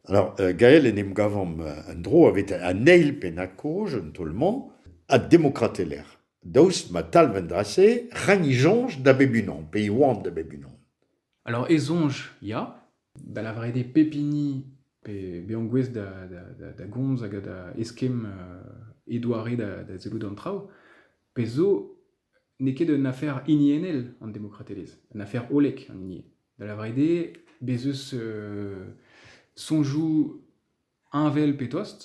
Alors, euh, Gael en em gavomp euh, en-dro aveit an eil pennañ-kaoz, un taol-mañ, ha demokrat e-lec'h. Daoust ma talv an dra-se, ren e soñj da bep unan, pe e oamp da bep unan. Alors, e soñj, ya. Da lavaret eo pep hini pe bezañ gouest da, da, da, da gomz hag da eskemm euh, e doare da, da sellout an traoù. Pezh zo, n'eo ket un afer hiniennel an demokratelezh, un afer hollek an hini. Da lavaret eo bez' eus soñjoù heñvel pe tost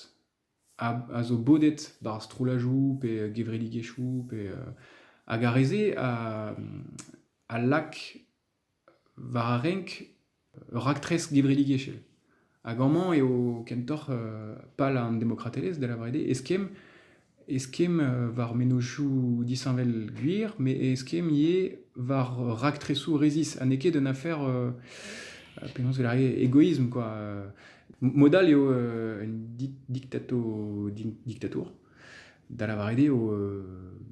a zo bodet barzh strollajoù pe gevredigezhioù pe hag ar re-se a lak war ar renk ur raktres gevredigezhel. Hag amañ eo kentoc'h pal an demokratelezh, da lavaret eo, eskemm eskemm war mennozhioù disheñvel gwir, met eskemm ivez war raktresoù resis, ha n'eo ket un afer penaos e egoisme quoi. Mod all eo un diktato diktatour, da lavaret eo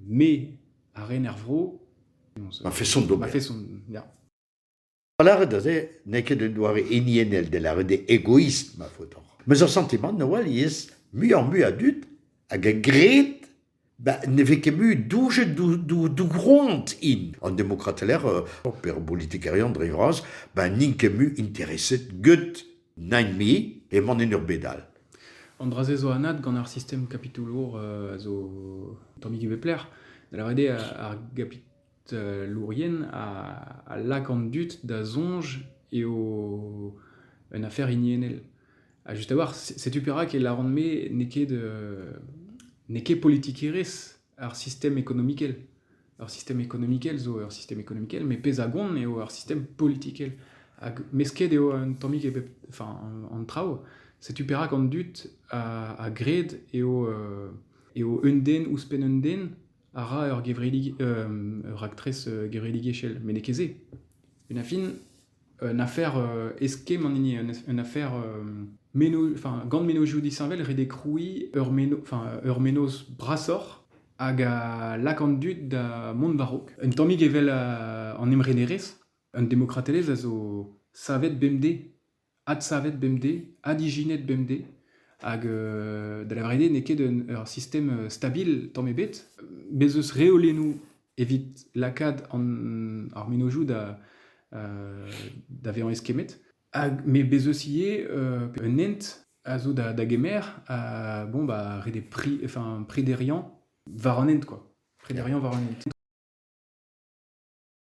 me a ren er vro. Ma façon d'ober. Ma façon, ya. Pa lâret aze n'eo ket un doare hiniennel da lâret eo egoist ma faotr mes ur santimant a-walc'h muioc'h-mui a dud hag a gred ba ne vez ket mui doujet d'o groant int an demokratelezh pe ar politikerien dre vras ba n'int ket mui intereset get nain-me eman en ur bed all. An dra-se zo anat gant ar sistem kapitoulour a zo tammig e bep lec'h da lâret eo ar Lourien a lak an dud da soñj eo un afer hiniennel. Ha just a-walc'h, setu perak e lâran-me n'eo ket n'eo ket politikerezh ar sistem ekonomikel. Ur sistem ekonomikel zo ur sistem ekonomikel, met pezh a gont eo ur sistem politikel. Hag mesket eo un tammig e bep enfin an traoù. Setu perak an dud a gred eo eo un den ouzhpenn un den a ra ur gevredig, ur raktres gevredigezhel, met n'eo ket se. Une affin, un afer eskemm an hini, un afer gant mennozhioù disheñvel ret eo krouiñ ur menoz brasoc'h hag a lak an dud da mont war-raok. Un tammig evel an emrenerezh, an demokratelezh a zo savet bemdez adsavet bemdez, adijinet bemdez, hag euh, da lavaret eo n'eo ket un, ur sistem euh, stabil tamm ebet. Bez' eus reolennoù evit lakaat an, ar menozioù da, euh, da vezañ eskemmet. Hag, mais bez' eus ivez euh, un hent a zo da, da gemer à bon bah des prix enfin prédériant war an hent quoi prédériant war an hent